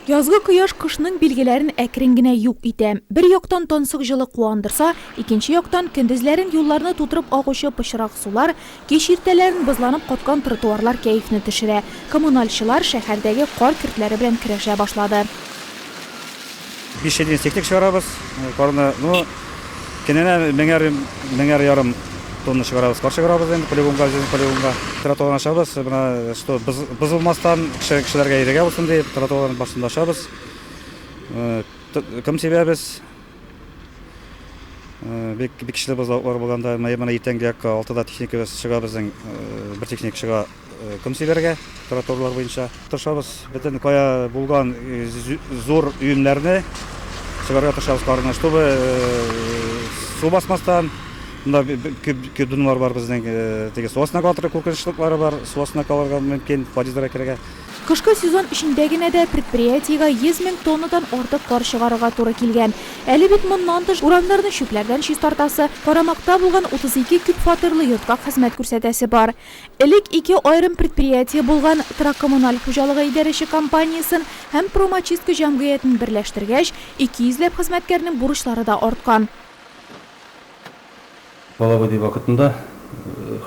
Язгы кояш кышның билгеләрен әкрен генә юк итә. Бер яктан тансык җылы куандырса, икенче яктан, көндезләрен юлларны тутырып агучы пычрак сулар, кич иртәләрен бозланып каткан тротуарлар кәефне төшерә. Коммунальчылар шәһәрдәге кар көртләре белән көрәшә башлады. Биш ел инстинктик чыгарабыз, парны, ну, кенәнә меңәр, меңәр ярым тонна чыгарабыз, пар чыгарабыз инде полигонга, үзебезнең полигонга. Тротуарны ачабыз, менә, что, боз, бозылмастан, кеше, кешеләргә ирегә булсын дип, тротуарны барсын да ачабыз. Ком сибәбез. Бик, бик көчле бозлавыклар булганда, менә иртәнге якка алтыда техникабыз чыга безнең, бер техник чыга. Кымсиләргә тротуарлар буенча. Тырышабыз бөтен кая булган зур өемнәрне чыгарга тырышабыз карны, чтобы су басмастан. Монда күп дунлар бар безнең, теге су астына кала торган куркынычлыклары бар, су астына калырга мөмкин, подъездларга керергә. Кышкы сезон эчендә генә дә предприятиегә 100 мең тоннадан артык кар чыгарырга туры килгән. Әле бит моннан тыш урамнарны чүпләрдән чистартасы, карамакта булган 32 күпфатирлы йортка хезмәт күрсәтәсе бар. Элек ике аерым предприятие булган Тракоммуналь хуҗалыгы идарәче компаниясен һәм Промочистка җәмгыятен берләштергәч, ике йөзләп хезмәткәрнең бурычлары да арткан. Половодье вакытында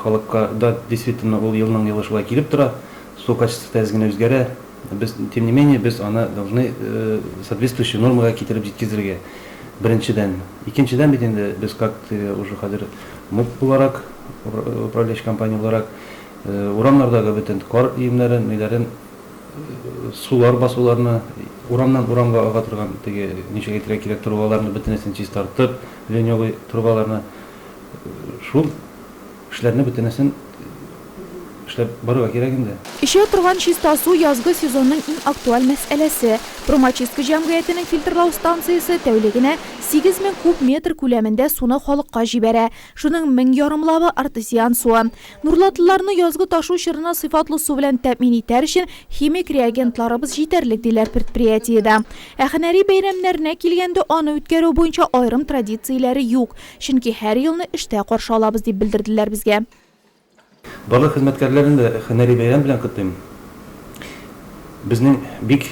халыкка да, действительно, ул елның-елы шулай килеп тора, су качествосы тәз генә үзгәрә. Без, тем не менее, без аны должны соответствующий нормага китереп җиткезергә, беренчедән. Икенчедән, бит инде без как уже хәзер муп буларак, управляющий компания буларак, урамнардагы бөтен кар өемнәрен, ниләрен, сулар басуларны, урамнан урамга ага торган теге, ничек әйтергә кирәк, трубаларны бөтенесен чистартып, ленёвый трубаларны, шул Эшләрне бөтенесен эшләп барырга кирәк инде. Эчә торган чиста су язгы сезонның иң актуаль мәсьәләсе. Промочистка җәмгыятенең фильтрлау станциясе тәүлегенә сигез мең куб метр күләмендә суны халыкка җибәрә. Шуның мең ярымлавы, артезиан суы. Нурлатлыларны язгы ташу чорына сыйфатлы су белән тәэмин итәр өчен химик реагентларыбыз җитәрлек, диләр предприятиедә. Ә һөнәри бәйрәмнәренә килгәндә, аны үткәрү буенча аерым традицияләре юк. Чөнки һәр елны эштә каршы алабыз, дип белдерделәр безгә. Барлык хезмәткәрләрне дә һөнәри бәйрәм белән котлыйм. Безнең бик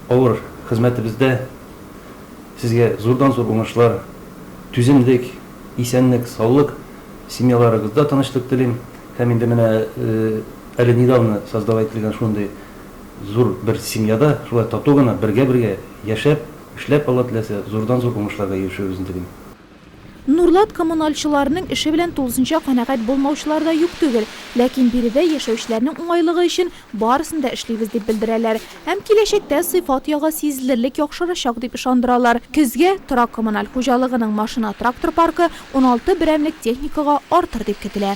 авыр хезмәтебездә сезгә зурдан-зур уңышлар, түземлек, исәнлек, саулык, семьяларыгызда тынычлык телим һәм инде менә әле недавно создава ителгән шундый зур бер семьяда шулай тату гына бергә-бергә яшәп, Эшләп, Алла теләсә, зурдан-зур уңышларга ирешербезне телим. Нурлат коммуналчыларының эше белән тулысынча канәгать булмаучылар да юк түгел. Ләкин биредә яшәүчеләрнең уңайлыгы өчен барысын да эшлибез дип белдерәләр. Һәм киләчәктә сыйфат ягы сизелерлек яхшырачак дип ышандыралар. Көзгә торак-коммуналь хуҗалыгының машина-трактор паркы уналты берәмлек техникага артыр дип көтелә.